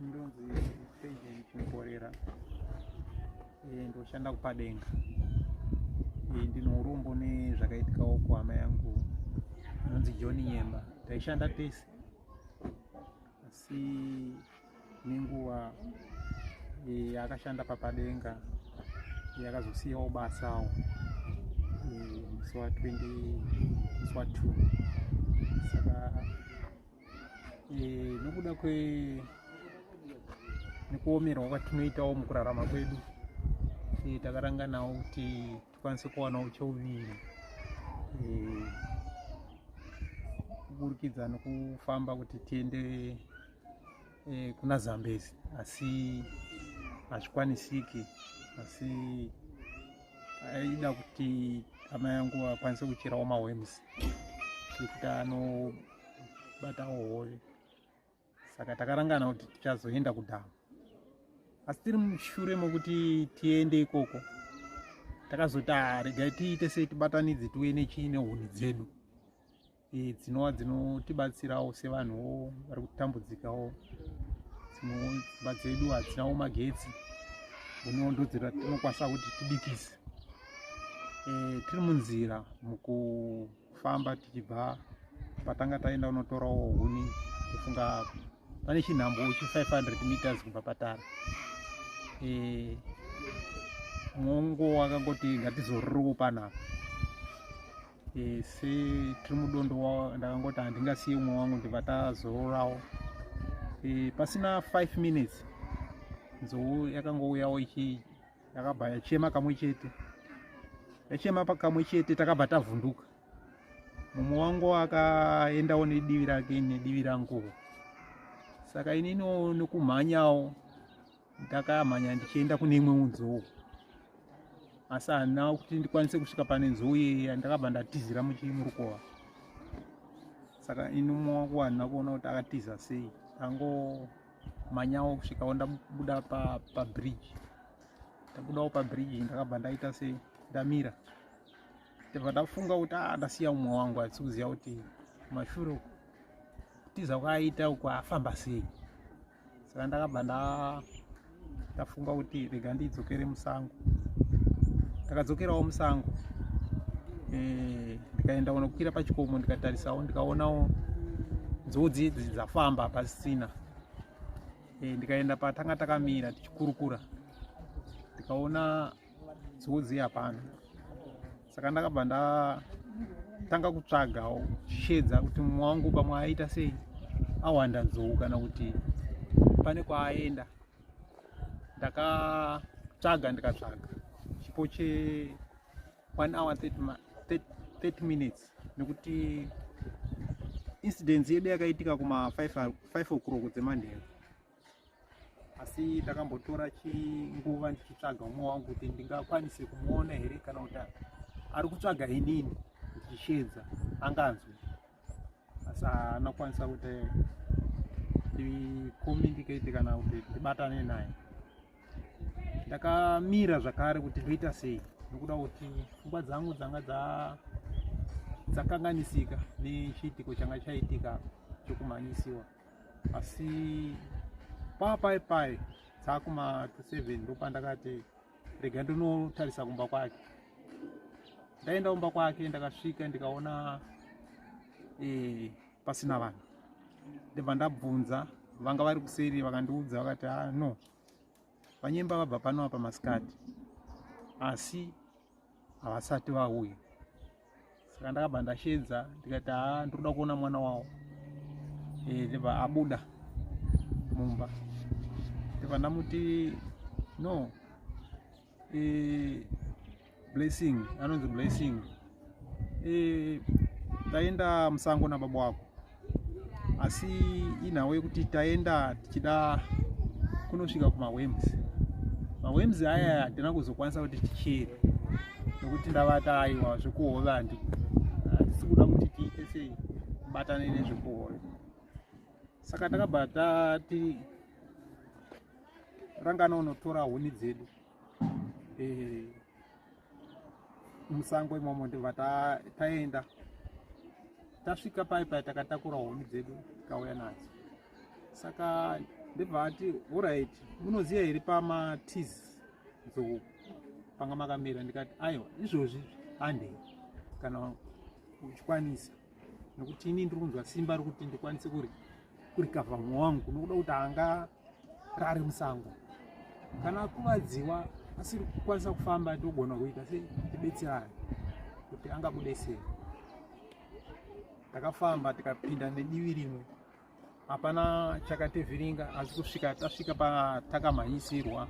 ndonzi agent mborera eh, ndoshanda kupadenga eh, ndine urombo nezvakaitikawo kuhama yangu inonzi john nyemba taishanda tese asi nenguva eh, yaakashanda papadenga yakazosiyawo eh, basawo eh, musi wa 20 musi wa 2 saka nokuda kwe nekuomerwa kwatinoitawo mukurarama kwedu takaranganawo kuti tikwanise kuwanawo chouviri kuburikidza nekufamba kuti tiende eh, kuna zambezi asi hazvikwanisiki asi aida kuti hama yangu akwanise kucherawo mawems nekuti anobatawo hove saka takarangana kuti tichazoenda kudhamu asi tiri mushure mokuti tiende ikoko takazoti ah, regai tiite sei tibatanidze tiuye nechii nehuni dzedu eh, dzinova dzinotibatsirawo sevanhuwo vari kutambudzikawo dzimba dzedu hadzinawo magetsi unondo dzira tinokwanisa kuti tibikise eh, tiri munzira mukufamba tichibva patanga taenda unotorawo huni kufunga pane chinhambo chi 500 meters kubva patara eh, mwongo wakangoti ngatizororowo panapa e, se tiri mudondo ndakangoti handingasiye umwe wangu ndibva tazororawo e, pasina 5 minutes nzou yakangouyawo ichi yakabva yachema kamwe chete yachema pakamwe chete takabva tavhunduka mumwe wangu akaendawo nedivi rake nedivi ranguwo saka ininiwo nekumhanyawo ndakamhanya ndichienda kune imwe nzou asi handina kuti ndikwanise kusvika pane nzou yeya ndakabva ndatizira muchimurukova saka ini mumwe wangu handina kuona kuti akatiza sei angomhanyawo kusvikawo ndabuda pabridge pa ndabudawo pabridge ndakabva ndaita se ndamira ndibva ndafunga kuti a ah, ndasiya umwe wangu asi kuziva kuti mashure tiza kwaaita uko afamba sei saka ndakabva ndafunga kuti rega ndidzokere musango ndakadzokerawo musango eh, ndikaenda kunokwira pachikomo ndikatarisawo ndikaonawo nzodzi idzi dzafamba pasina eh, ndikaenda patanga takamira tichikurukura ndikaona nzodzi hapana saka ndakabva ndatanga kutsvagawo shedza kuti mumwe wangu pamwe aita sei awanda nzou kana kuti pane kwaaenda ndakatsvaga ndikatsvaga chipo che 1 hour 30 minutes nekuti incidence yedu yakaitika kuma 5 o'clock dzemanheru asi ndakambotora chinguva ndichitsvaga umwe wangu kuti ndingakwanise kumuona here kana kuti ari kutsvaga inini ndichishedza anganzwe asi anakwanisa kuti ndicommunicate kana kuti ndibatane naye ndakamira zvakare kuti ndoita sei nokuda kuti pfungwa dzangu dzanga dzakanganisika nechiitiko changa chaitika chokumhanyisiwa asi papai pai dzakuma 27 ndopandakati rega ndinotarisa kumba kwake ndaenda kumba kwake ndakasvika ndikaona e, pasina vanhu ndibva ndabvunza vanga vari kuseri vakandiudza vakati a ah, no vanyemba vabva pano apa masikati asi havasati vauya saka ndakabva ndashedza ndikati haa ndikuda kuona mwana wawo eh, ndibva abuda mumba ndibva ndamuti no eh, blessing anonzi blessing eh, taenda musango nababa wako asi inhawo yekuti taenda tichida kunosvika kumawems mawems aya hatina kuzokwanisa kuti tichere nekuti ndavata aiwa zvekuhove handi hatisi kuda kuti tiite sei batane nezvekuhove saka takabva tati rangana unotora huni dzedu eh, musango imomo ndobva taenda tasvika pai pai takatakura huni dzedu tikauya nadzo saka ndibva ati orit munoziva here pamatiz nzou panga makamira ndikati aiwa izvozvi handei kana uchikwanisa nekuti ini ndiri kunzwa simba rekuti ndikwanise kurikavha mumwe wangu nokuda kuti anga rari musango kana akuvadziwa asiri kukwanisa kufamba togona kuita sei tibetserane kuti angabude sei takafamba tikapinda nedivi rimwe hapana chakativhiringa asi kusvika tasvika patakamhanyisirwa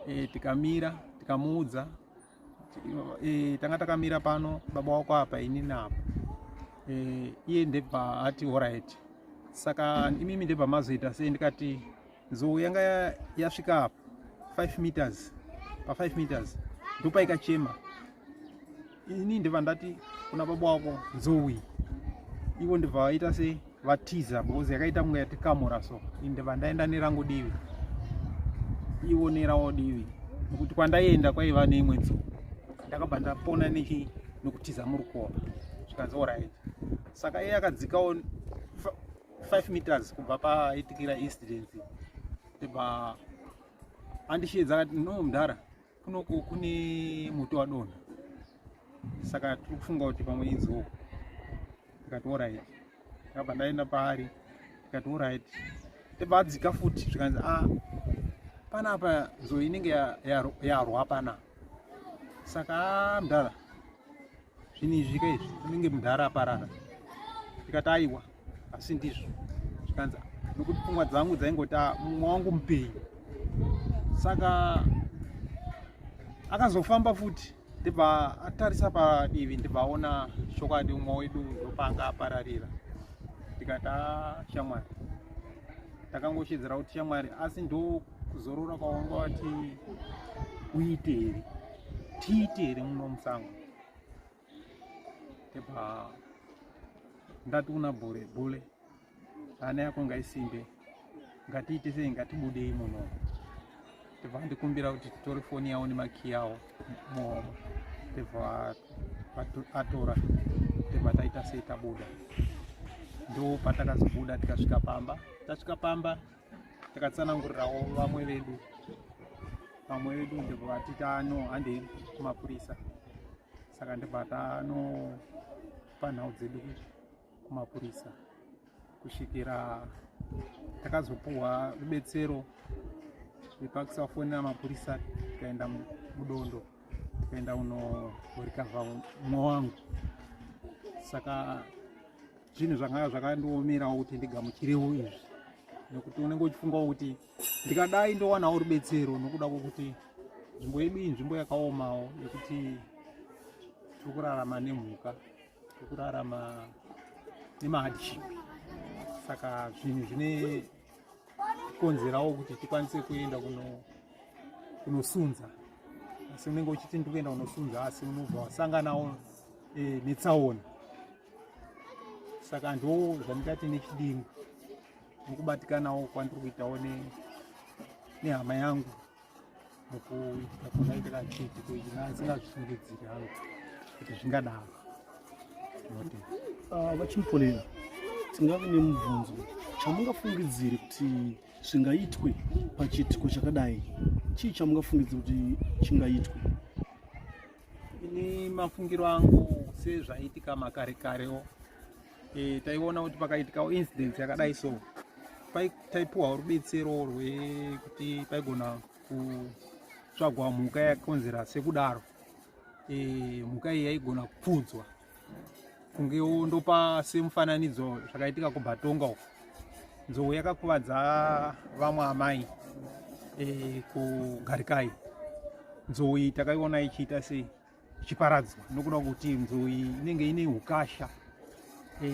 e, tikamira tikamuudza e, tanga takamira pano baba wako apa ini napo e, eh, iye ndebva ati orit saka imimi ndebva mazoita sei ndikati nzou yanga yasvika apa 5 meters pa 5 meters ndopaikachema ini ndibva ndati kuna baba wako nzou iyi ivo ndibva vaita sei vatiza because yakaita kunge yatikamura so inde vandaenda nerangu divi ivo nerawo divi nokuti kwandaienda kwaiva neimwe dzuva ndakabva ndapona nechi nokutiza muri kuona zvikanzi orit saka iye akadzikawo 5 meters kubva paitikira incidence ndibva andishiedza akati no mdhara kunoku kune moto wadonha saka tiri kufunga kuti pamwe inzou tikati orit ndakabva ndaenda paari tikati orit tibva adzika futi zvikanzi a ah, panapa nzou inenge yarwa pana saka ah, mdara zvinhu izvi ka izvi unenge mudhara aparara ndikati aiwa asi ndizvo zvikanzi nokuti pfungwa dzangu dzaingoti ah, mumwe wangu mupei saka akazofamba futi ndibva atarisa padivi ndibva aona chokwadi umwe wedu ndopanga apararira ndikati ah, shamwari takangoshedzera kuti shamwari asi ndokuzorora kwawangu wati uite here tiite here muno musango tepa ndati kuna bhule bhule ana yako ngaisimbe ngatiite sei ngatibudei muno tebva andikumbira kuti titore foni yawo nemakiyi awo muhomwe tebva atora tebva taita sei tabuda ndo patakazobuda tikasvika pamba tasvika pamba takatsanangurirawo vamwe vedu vamwe vedu ndibva vati tano handei kumapurisa saka ndibva tanopa nhau dzedu kumapurisa kusvikira takazopuhwa rubetsero rwepakisafona mapurisa tikaenda mudondo tikaenda unorikavha mwa wangu saka zvinhu zvanga zvakandiomerawo kuti ndigamuchirewo izvi nekuti unenge uchifungawo kuti ndikadai ndowanawo rubetsero nokuda kwokuti nzvimbo yedu iyi nzvimbo yakaomawo yekuti tiri kurarama nemhuka tiri kurarama nemahardship saka zvinhu zvine konzerawo kuti tikwanise kuenda kunosunza asi unenge uchiti ndikuenda kunosunza asi unobva wasanganawo eh, netsaona saka ndo zvandingati nechidingo nokubatikanawo kwandiri kuitawo nehama yangu mukuitika kunaitira chiti kuina asina zvisungidziri hangu kuti zvingadaro note ah, vachimuponera tingave nemubvunzo chamungafungidziri kuti zvingaitwe pachiitiko chakadai chii chamungafungidziri kuti chingaitwe Ini mafungiro angu sezvaiitika makare karewo e, taiona kuti pakaitikawo incidence yakadai so taipuwa rubetsero rwekuti paigona kutsvagwa mhuka yakonzera sekudaro e, mhuka iyi yaigona kupfudzwa kunge ndopa semufananidzo zvakaitika kubatonga uko nzou yakakuvadza vamwe amai e, kugarikai nzou iyi takaiona ichiita sei ichiparadzwa nokuda kuti nzou iyi inenge ine ukasha e,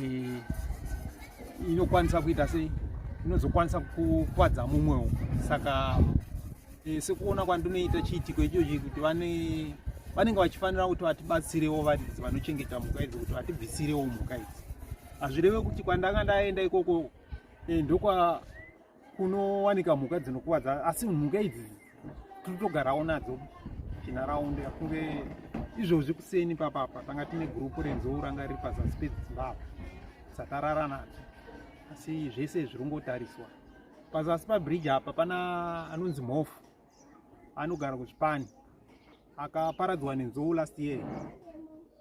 inokwanisa kuita sei inozokwanisa kukwadza mumwewo saka Eh, sekuona kwandinoita chiitiko ichochi kuti vane vanenge vachifanira kuti vatibatsirewo varidzi vanochengeta mhuka idzi kuti vatibvisirewo mhuka idzi hazvireve kuti kwandanga ndaenda ikoko eh, ndokwa kunowanika mhuka dzinokuvadza asi mhuka idzi tiri togarawo nadzo chinharaundi akunge izvozvi kuseni papapa tanga tine gurupu renzou ranga riri pazasi pedzimbabwe dzatarara nadzo asi zvese zvirongotariswa Pazasi pabridge apa pana anonzi Mhofu anogara kuchipani akaparadzwa nenzou last year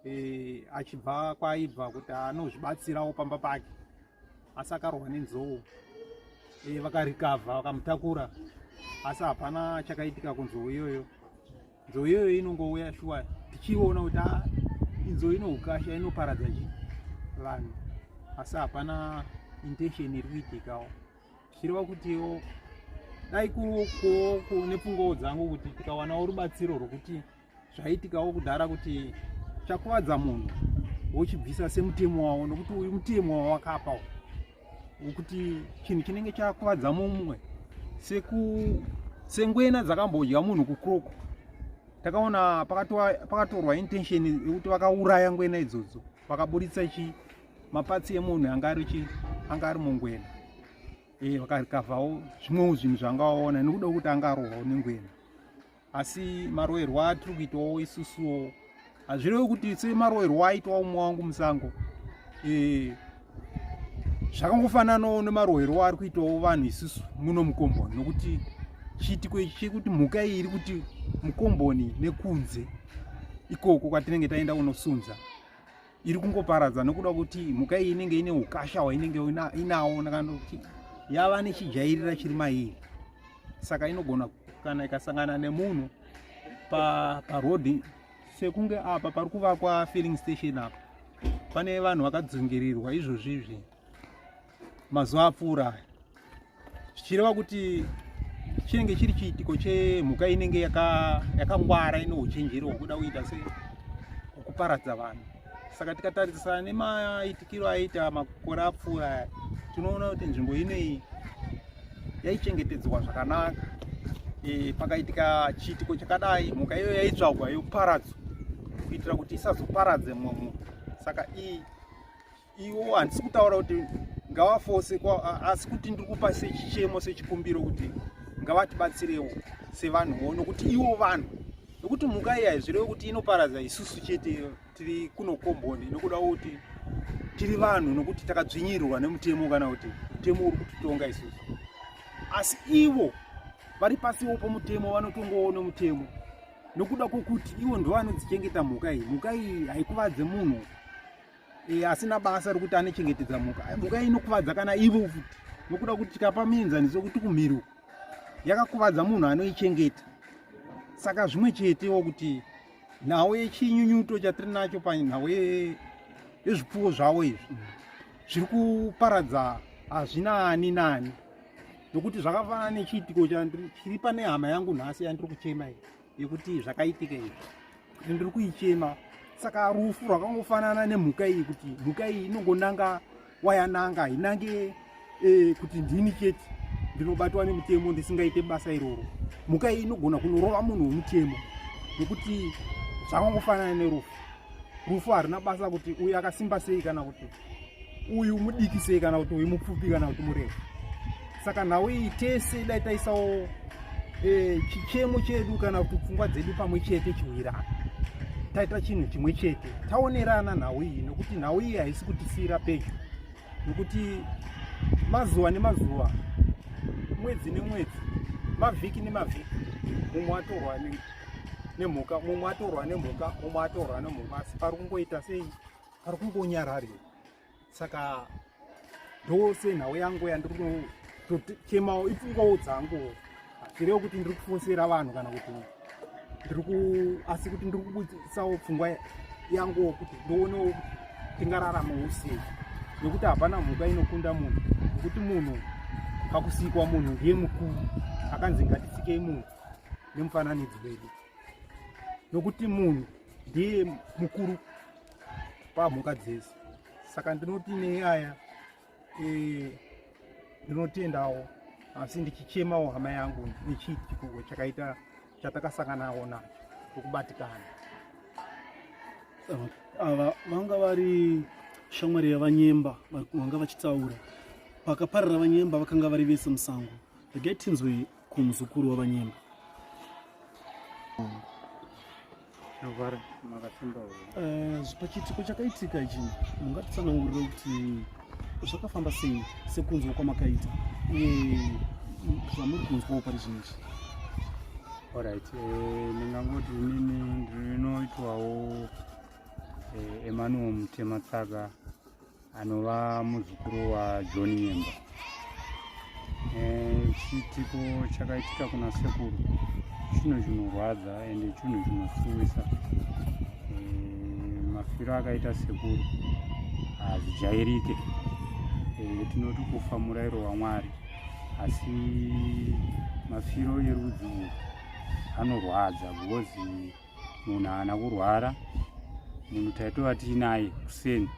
e, achibva kwaaibva kuti anozvibatsirawo pamba pake asi akarohwa nenzou e, vakarikavha vakamutakura asi hapana chakaitika kunzou iyoyo Nzou iyoyo inongouya shuwa tichiona kuti ah, inzou inoukasha inoparadza chi vanhu asi hapana intention iri kuitikawo zvichireva kutiwo dai nepfungawo dzangu kuti tikawanawo rubatsiro rwokuti zvaitikawo kudhara kuti chakuvadza munhu wochibvisa semutemo wawo nokuti uyu mutemo wawakapawo kuti chinhu chinenge chakuvadza mumwe seku sengwena dzakambodya munhu kukroko takaona pakatorwa intention yekuti vakauraya ngwena idzodzo vakaburitsa chi mapatsi emunhu anga ari chi anga ari mungwena e eh, vakarikavhawo zvimwewo zvinhu zvangawaona nekuda kwekuti angarohwawo nengwena asi maroerwa atiri kuitawo isusuwo hazvirevi kuti semaroerwa aitwa umwe wangu musango e, zvakangofananawo nemaroerwa ari kuitawo vanhu isusu muno mukomboni nokuti chiitiko ichi chekuti mhuka iyi iri kuti mukomboni nekunze ikoko kwatinenge taenda kunosunza iri kungoparadza nokuda kuti mhuka iyi inenge ine ukasha hwainenge inawo nakanda kuti yava nechijairira chiri mairi saka inogona kana ikasangana nemunhu parodi pa sekunge apa pari kuvakwa filling station apa pane vanhu vakadzungirirwa izvozvizvi mazuva apfuura aya zvichireva kuti chinenge chiri chiitiko chemhuka inenge yakangwara ine uchenjeri hwokuda kuita se kuparadza vanhu saka tikatarisana nemaitikiro aita makore apfuura aya tinoona kuti nzvimbo inei yaichengetedzwa zvakanaka e, pakaitika chiitiko chakadai mhuka iyo yaitsvagwa yoparadzwa kuitira kuti isazoparadze mumwe munhu saka iyi iwo handisi kutaura kuti ngavafose asi kuti ndiri kupa sechichemo sechikumbiro kuti ngavatibatsirewo sevanhuwo nokuti iwo vanhu nokuti mhuka iya izvirevo kuti inoparadza isusu chete tiri kuno komboni nokuda kuti tiri vanhu nokuti takadzvinyirwa nemutemo kana kuti mutemo uri kutitonga isusu asi ivo vari pasiwo pomutemo vanotongowo nomutemo nokuda kwokuti ivo ndovanodzichengeta mhuka iyi mhuka iyi haikuvadze munhu e, asina basa rokuti anochengetedza mhuka mhuka inokuvadza kana ivo futi nokuda kuti tikapa mienzaniso yokuti kumhiri uku yakakuvadza munhu anoichengeta saka zvimwe chetewo kuti nhau yechinyunyuto chatiri nacho panhau yezvipfuwo zvavo izvi zviri kuparadza hazvina ani nani nokuti zvakafanana nechiitiko chiri pane hama yangu nhasi yandiri kuchema iyi yekuti zvakaitika izvi kuti ndiri kuichema saka rufu rwakangofanana nemhuka iyi kuti mhuka iyi inongonanga wayananga hainange e, kuti ndini chete ndinobatwa nemutemo ndisingaite basa iroro mhuka iyi inogona kunorova munhu wemutemo nekuti zvakangofanana nerufu rufu harina basa kuti uyu akasimba sei kana kuti uyu mudiki sei kana kuti uyu mupfupi kana kuti murefu saka nhau iyi tese dai taisawo e, chichemo chedu kana kuti pfungwa dzedu pamwe chete chiwirana taita chinhu chimwe chete taonerana nhau iyi nokuti nhau iyi haisi kutisiyira pedyo nokuti mazuva nemazuva mwedzi nemwedzi mavhiki nemavhiki mumwe atorwa nemhuka mumwe atorwa nemhuka mumwe atorwa nemhuka asi pari kungoita sei pari kungonyarari saka ndose nhau yangu yandiri kunochemawo ipfungawo dzangu hazvirewo kuti ndiri kufonsera vanhu kana kuti ndiri ku asi kuti ndiri kubudisawo pfungwa yanguwo kuti ndionewo tingararama usei nekuti hapana mhuka inokunda munhu nekuti munhu pakusikwa munhu ndiye mukuru akanzi ngatisikei munhu nemufananidzo wedu nokuti munhu ndiye mukuru pamhuka dzese saka ndinoti nenyaya eh, ndinotendawo asi ndichichemawo hama yangu nechiitiko chakaita chatakasanganawo nacho tokubatikana ava vanga vari shamwari yavanyemba vanga vachitaura pakaparira vanyemba vakanga vari vese musango regai tinzwe kumuzukuru wavanyemba zvavara makasimba eh, pachiitiko chakaitika ichi mungatitsanangurira kuti zvakafamba sei sekunzwa kwamakaita uye zvamuri kunzwawo pari zvinhu izvi orit eh, ndingangoti inini ndinoitwawo eh, emanuel mutematsaka anova muzukuru wajohn nyemba eh, chiitiko chakaitika kuna sekuru chinhu chinorwadza ende chinhu chinosuwisa eh, mafiro akaita sekuru hazijairike eh, tinoti kufa murairo wamwari asi mafiro erudzi urwu anorwadza because munhu haana kurwara munhu taitova tiinaye kuseni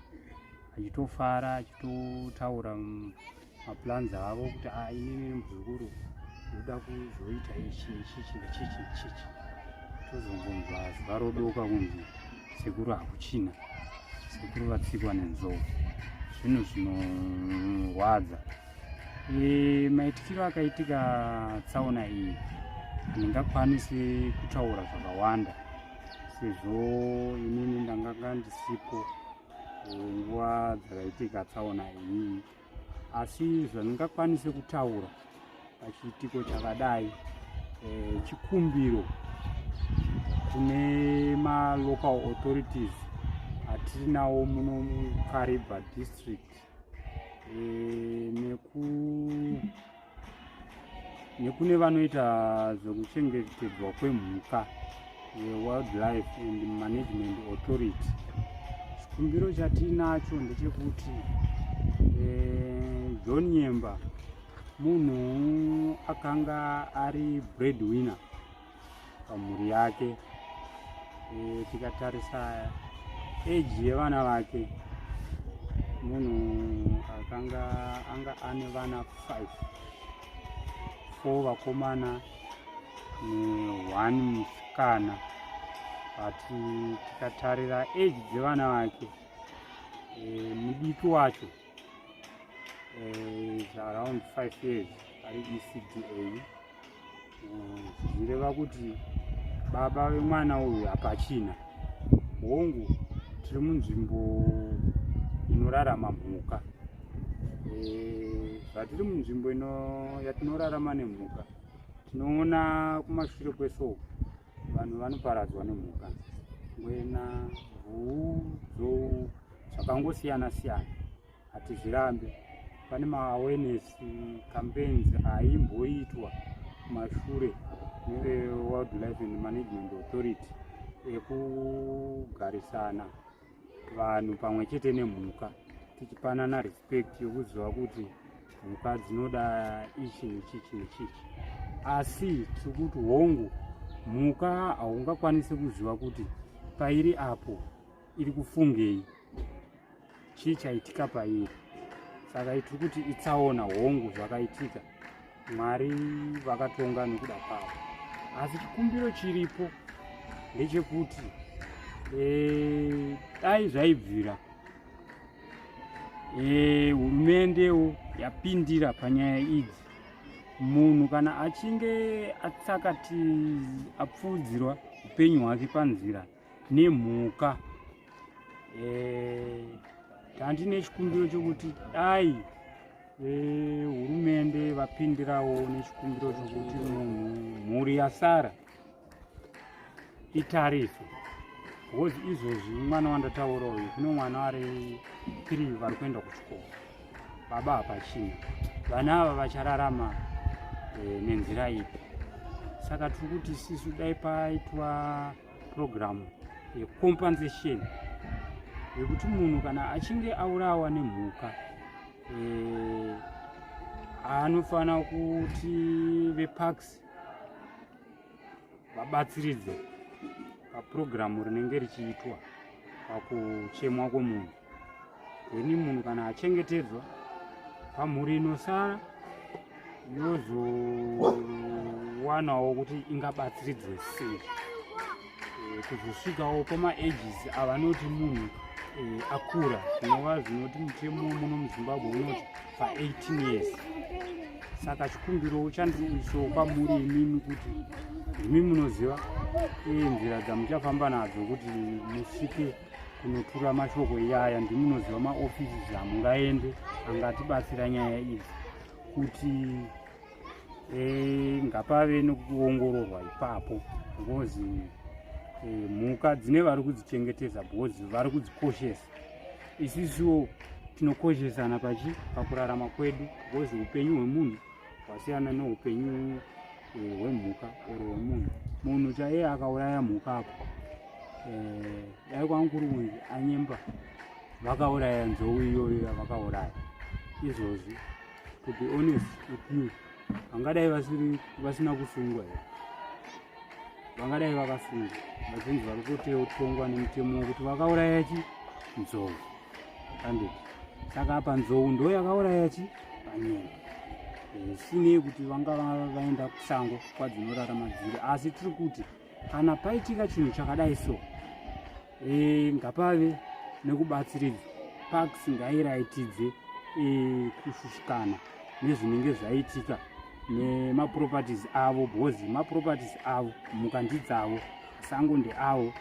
achitofara achitotaura maplans avo kuti a ah, inini muzukuru ndoda kuzoita ichi nechichi nechichi nechichi tozongonzwa zuva rodoka kunzi sekuru hakuchina sekuru vatsikwa nenzou zvinhu zvinorwadza no, E, maitikiro akaitika tsaona iyi handingakwanisi kutaura zvakawanda sezvo inini ndanganga ndisipo nguva dzakaitika tsaona iyi asi zvandingakwanise kutaura pachiitiko chakadai e, chikumbiro kune malocal authorities atiri nawo muno mukaribha district eh, neku nekune vanoita zvekuchengetedzwa kwemhuka wildlife and management authority chikumbiro chatiinacho ndechekuti eh, john nyemba munhu akanga ari breadwinner pamhuri yake e, tikatarisa eji yevana vake munhu akanga anga ane vana 5 four vakomana neone musikana but tikatarira eji dzevana vake e, mudiki wacho eh, around five years ari ecda eh, zvireva kuti baba vemwana uyu hapachina hongu tiri munzvimbo inorarama mhuka eh, zvatiri munzvimbo yatinorarama nemhuka tinoona kumashure kwesoo vanhu vanoparadzwa nemhuka ngwena bvuu dzou zvakangosiyana siyana hatizvirambe pane maawareness campaigns aimboitwa mashure newildlife and management authority ekugarisana vanhu pamwe chete nemhuka tichipanana respect yokuziva kuti mhuka dzinoda ichi nechichi nechichi asi tiri kuti hongu mhuka haungakwanisi kuziva kuti pairi apo iri kufungei chii chaitika pairi saka tiri kuti itsaona hongu zvakaitika Mwari vakatonga nokuda kwavo, asi chikumbiro chiripo ndechekuti eh, dai zvaibvira eh, hurumendewo yapindira panyaya idzi. Munhu kana achinge atsakati apfuudzirwa upenyu hwake panzira nemhuka eh, tandine e, chikumbiro chokuti dai eh, hurumende e, vapindirawo nechikumbiro chokuti munhu mhuri yasara itariswe bcause izvozvi mwana wandataura uyu kune mwana ari three vari kuenda kuchikoro baba hapachina vana ava vachararama e, nenzira ipi saka tiri kuti sisu dai paitwa purogiramu yecompensation yekuti munhu kana achinge aurawa nemhuka eh, anofanira kuti veparks vabatsiridze papurogiramu rinenge richiitwa pakuchemwa kwomunhu ini munhu kana achengetedzwa pamhuri inosara yozowanawo kuti ingabatsiridzwe sei eh, kuzosvikawo pamaages avanoti munhu eh, akura zvinova zvinoti mutemo muno muzimbabwe unoti pa18 years saka chikumbiro chandiisawo pamhuri imimi kuti imi munoziva eh, nzira dzamuchafamba nadzo kuti musvike kunotura mashoko iyaya ndimunoziva maofisi zvamungaende angatibatsira nyaya idzi kuti eh, ngapave nekuongororwa ipapo because eh, mhuka dzine vari kudzichengetedza because vari kudzikoshesa isisiwo tinokoshesana pachi pakurarama kwedu because upenyu hwemunhu hwasiyana neupenyu eh, hwemhuka or hwemunhu munhu chaiye akauraya mhuka apo eh, dai kwamukuru uyu anyemba vakauraya nzou iyoyo yavakauraya izvozvi to be honest with you vangadai vasina kusungwa here vangadai vakasungwa vachinzi vari kutotongwa nemutemo wekuti vakauraya chi nzou anditi saka apa nzou ndo yakauraya chi panyoni zvisinei eh, kuti vanga vaenda kusango kwadzinorara madziri asi tiri kuti kana paitika chinhu chakadai so eh, ngapave nekubatsiridza parks ngairaitidze eh, kushushikana nezvinenge zvaitika nemaproperties avo bhozi maproperties avo mhuka ndidzavo Masango ndeawo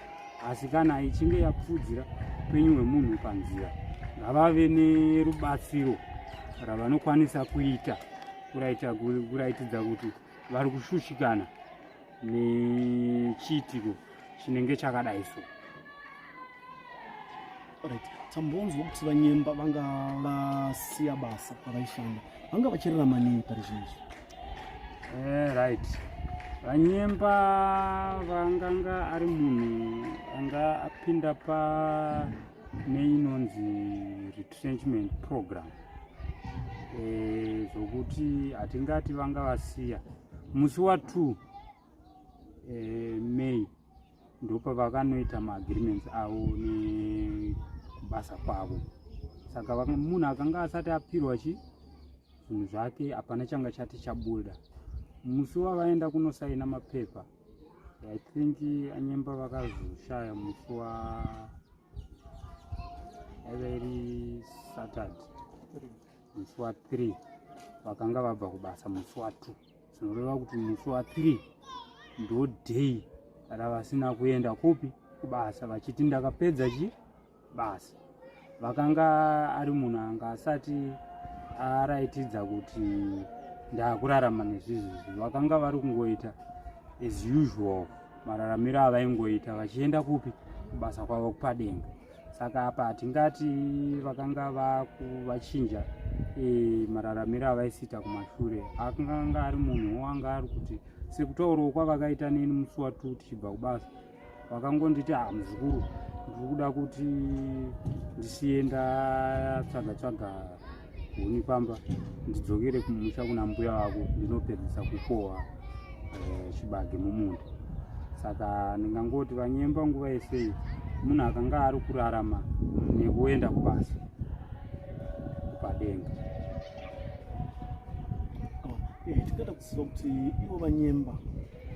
asi kana ichinge yapfudzira upenyu hwemunhu panzira ngavave nerubatsiro ravanokwanisa kuita kuraitidza kuti vari kushushikana nechiitiko chinenge chakadai so Alright. Tambonzwa kuti vanyemba vanga vasiya basa pavaishanda vanga vachirera maningi pari zvinizvi eh, right vanyemba vanganga ari munhu anga apinda pa neinonzi retrenchment program eh, zvokuti hatingati vanga vasiya musi wa two eh, may ndopavakanoita maagreements avo nekubasa kwavo saka munhu akanga asati apirwa chi zvinhu zvake hapana changa chati chabuda musi wavaenda kunosaina mapepa i think anyemba vakazoshaya musi wa yaive iri saturday musi wa three vakanga vabva kubasa musi wa two zvinoreva kuti musi wa 3 ndo day ravasina kuenda kupi kubasa vachiti ndakapedza chi basa vakanga ari munhu anga asati araitidza kuti ndakurarama nezvizvizvi vakanga vari kungoita as usual mararamiro avaingoita vachienda kupi kubasa kwavo kupadenga saka apa hatingati vakanga vachinja e, mararamiro avaisiita kumashure akanga ari munhu wanga ari kuti sekutaurawo kwavakaita neni musi watu tichibva kubasa vakangonditi ha ah, muzukuru ndiri kuda kuti ndisiye ndatsvaga tsvaga huni pamba ndidzokere kumusha kuna mbuya vako ndinopedzisa kukohwa eh, chibage mumunda saka ndingangoti vanyemba nguva yesei munhu akanga ari kurarama nekuenda kubasa padenga oh, eh, tingada kuziva kuti ivo vanyemba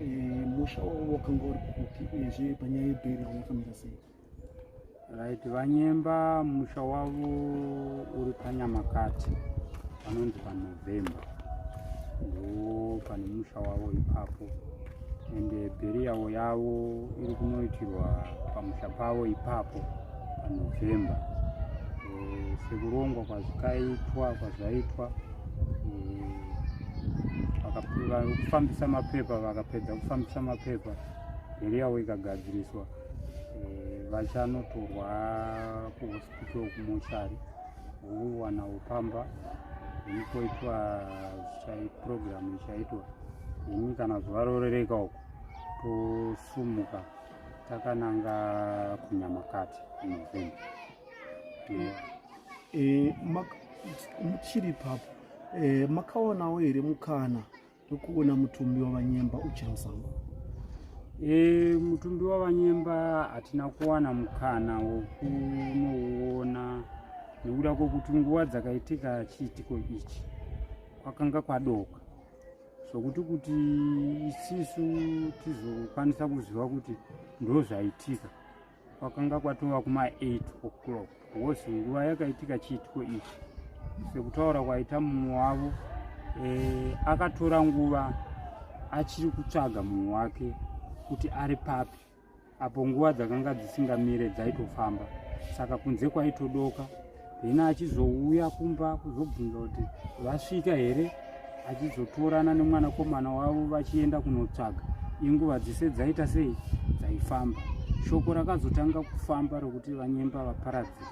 eh, musha wavo wakanga uri kupi uyezve panyaya yebheri vanofanira sei Right, Vanyemba musha wavo uri paNyamakati panonzi paNovember ndo pane musha wavo ipapo and eh, bheriyawo yavo iri kunoitirwa pamusha pavo ipapo paNovember eh, sekurongwa kwazvikaitwa kwazvaitwa eh, kufambisa mapepa vakapedza kufambisa mapepa bheriyawo ikagadziriswa eh, vachanotorwa kuhospital kumochari vowana upamba ikoitwa program ichaitwa ini kana zuva rorereka uku tosumuka takananga kunyamakati novemba eh, muchiri papo eh, makaonawo here mukana tokuona mutumbi wavanyemba uchiri musango e, mutumbi wavanyemba hatina kuwana mukana wokunouona nekuda kwokuti nguva dzakaitika chiitiko ichi kwakanga kwadoka zvokuti kuti isisu tizokwanisa kuziva kuti ndozvaitika Kwakanga kwatova kuma 8 o'clock wose nguva yakaitika chiitiko ichi. Sekutaura kwaita mumwe wavo e, akatora nguva achiri kutsvaga munhu wake kuti ari papi apo nguva dzakanga dzisingamire dzaitofamba saka kunze kwaitodoka then achizouya kumba kuzobvunza kuti vasvika here achizotorana nemwana komana wavo vachienda kunotsvaga inguva dzese dzaita sei dzaifamba shoko rakazotanga kufamba rokuti vanyemba vaparadzi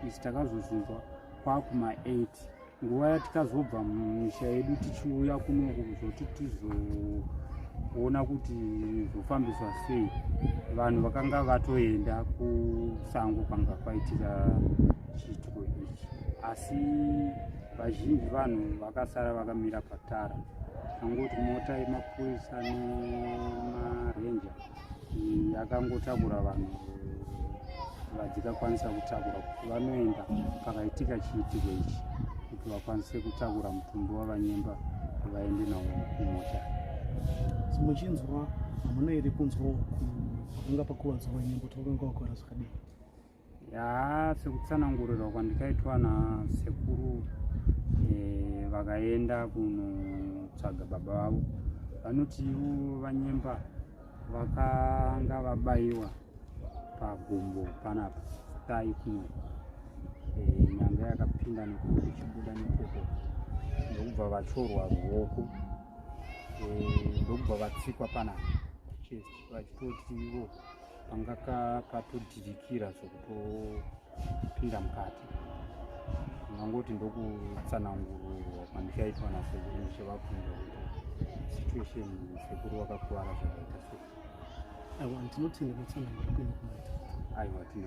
isi takazozunzwa kwakuma 8 nguva yatikazobva mumisha yedu tichiuya kunoku kuzoti tizoona kuti zvofambiswa sei vanhu vakanga vatoenda kusango kwanga kwaitika chiitiko ichi asi vazhinji vanhu vakasara vakamira patara angoti mota yemapurisa nemarenja akangotakura vanhu vadzikakwanisa kutakura kuti vanoenda pakaitika chiitiko ichi kuti vakwanise kutakura mutumbi wavanyemba vaende nawo kumota muchinzwa hamuna iri kunzwa kunga pakuvadzwa vanyemba kuti vakanga vakora zvakadii yaa sekutsanangurirwa kwandikaitwa nasekuru eh, vakaenda kunotsvaga baba vavo vanoti ivo vanyemba vakanga vabaiwa pagumbo panapa tai kuno eh, nyanga yakapinda nekuti ichibuda nekoko ndokubva vatorwa ruoko eh, ndokubva vatsikwa panapa chest vachitoti ivo panga katodhirikira zvekutopinda mukati ndangoti ndokutsanangururwa kwandikaitwa nasekuru ndichivabvunza kuti situation sekuru vakakuvara zvakaita sei aiwa ndinotenda kutsanangura kunokumaita aiwa